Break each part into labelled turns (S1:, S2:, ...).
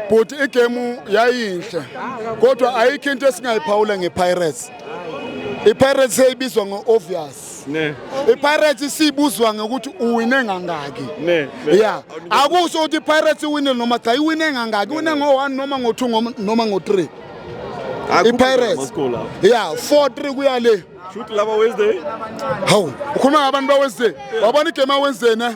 S1: bhuti igemu yayinhle kodwa ayikho into esingayiphawula ngepirates ipirates seyibizwa ngo-obvious ipirates isibuzwa ngokuthi uwine ngangaki ya akusho ukuthi ipirates iwine noma cha iwine ngangaki iwine ngo-one noma ngo-two noma ngo-three ipirates ya four three kuya le
S2: hawu
S1: ukhuluma ngabantu bawenzeni wabona igame awenzeni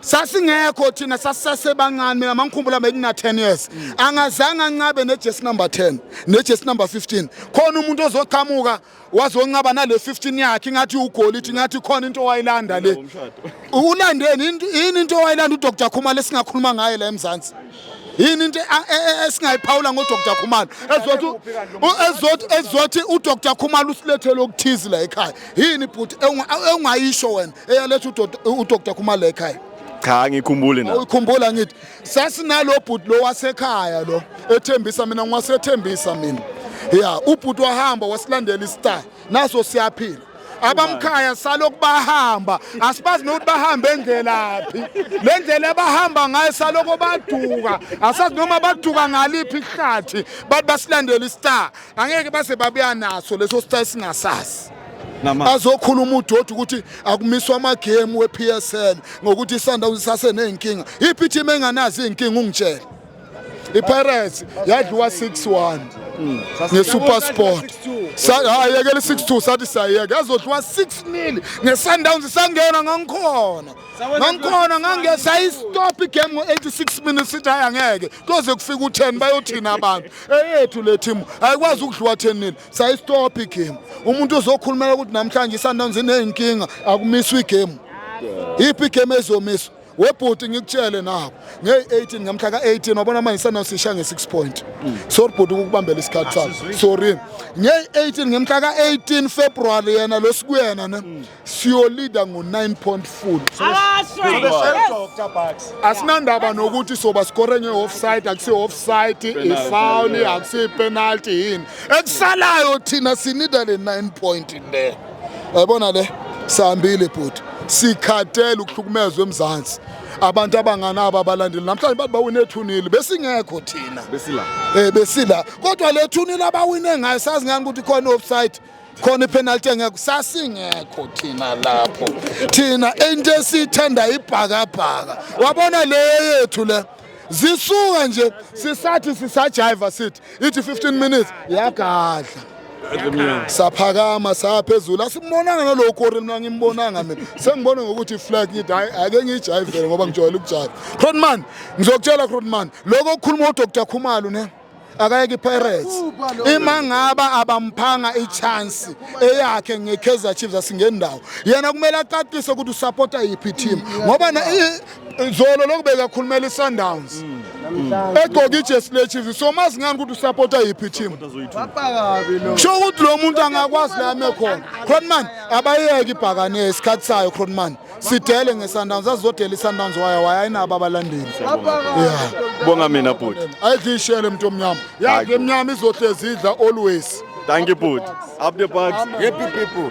S1: sasingekho thina sasisasebancane mina mangikhumbula bekuna 10 years angazange ancabe nejesi number 10 nejesi number 15 khona umuntu ozoqhamuka wazoncaba nale 15 yakhe ingathi ugolidi ingathi khona into owayilanda le ulandeni yini into owayilanda udr khumalo esingakhuluma ngaye la emzansi yini into esingayiphawula ngodr khumalo ezothi udr khumalo usilethele okuthizi la ekhaya yini bhuti ewungayisho wena eyaletha udr khumalo ekhaya cha ngikhumbule
S2: na uyikhumbula ngithi
S1: sasinalo bhuti lo wasekhaya lo ethembisa mina ngiwasethembisa mina ya ubhuti wahamba wasilandela istar naso siyaphila abamkhaya salokhu bahamba asibazi nokuthi bahamba endlelaphi le ndlela abahamba ngayo salokhu baduka asazi noma baduka ngaliphi ihlathi bathi basilandela istar angeke base babuya naso leso star singasazi azokhuluma udoti ukuthi akumiswa amagemu we-psl ngokuthi isundowns isaseney'nkinga iphi ithimu enganazi iy'nkinga ungitshele ipirates yadliwa 6-1 hmm. ngesuper sport ayekele 6-2 sathi sayeke yazodliwa 6-0 ngesundowns isangena ngangikhona ngangikhona ngangesayistop igame ngo-86 minutes sithi hayi angeke kuyoze kufika u-10 bayothina abantu eyethu le thimu ayikwazi ukudliwa 10 nini sayistopha igemu umuntu uzokhulumela ukuthi namhlanje isundowns iney'nkinga akumiswa igemu iphi igemu ezomiswa webhuti ngikutshele nako ngeyi-18 ngamhla ka-18 wabona manje sanosisha nge-6 point mm. sorry bhuti ukukubambela isikhathi sakho sorry ngeyi-18 ngemhla ka-18 february yena lo sikuyena ne mm. siyolida ngo-9 point full asinandaba nokuthi soba sikore nge-offside akusiyi-offside ifawuli akusiyi-penalty yini ekusalayo thina sinida le 9 point le yayibona le sihambile bhuti sikhathele ukuhlukumezwa emzansi abantu abanganabo abalandeli namhlanje bathi bawine ethunile besingekho thina besila um besila kodwa le thunile abawine ngayo sazi ngani ukuthi khona i-offside khona ipenalty engekho sasingekho thina lapho thina into esiyithanda ibhakabhaka wabona le yethu le zisuka nje sisathi sisajiva sithi ithi 15 minutes yagadla saphakama saphezulu asimbonanga nalowo kori mina ngimbonanga mina sengibona ngokuthi iflag ngithi hayi ake ngiyijayivele ngoba ngijwayele ukujayiva cronman ngizokutshela cronman lokho okukhuluma udr khumalo ne akayeke iPirates ima ngaba abamphanga ichance eyakhe ngeKaizer Chiefs asingendawo yena kumele acacise ukuthi usupporta yiphi team ngoba zolo lokubeka khulumela iSundowns mm. Mm. egqoka ijesi lechiefs so mazi ngani ukuthi usapota yiphi team sho ukuthi lo muntu angakwazi la ame khona cronman abayeke ibhakane isikhathi sayo cronman sidele ngesundowns azizodela isundowns waya waya ayinabo abalandeli yeah bonga mina
S2: bhuti ayidishele mntu
S1: omnyama yazi emnyama
S2: izohlezi
S1: idla
S2: always thank you
S1: bhuti
S2: up the
S1: bucks
S3: happy
S1: people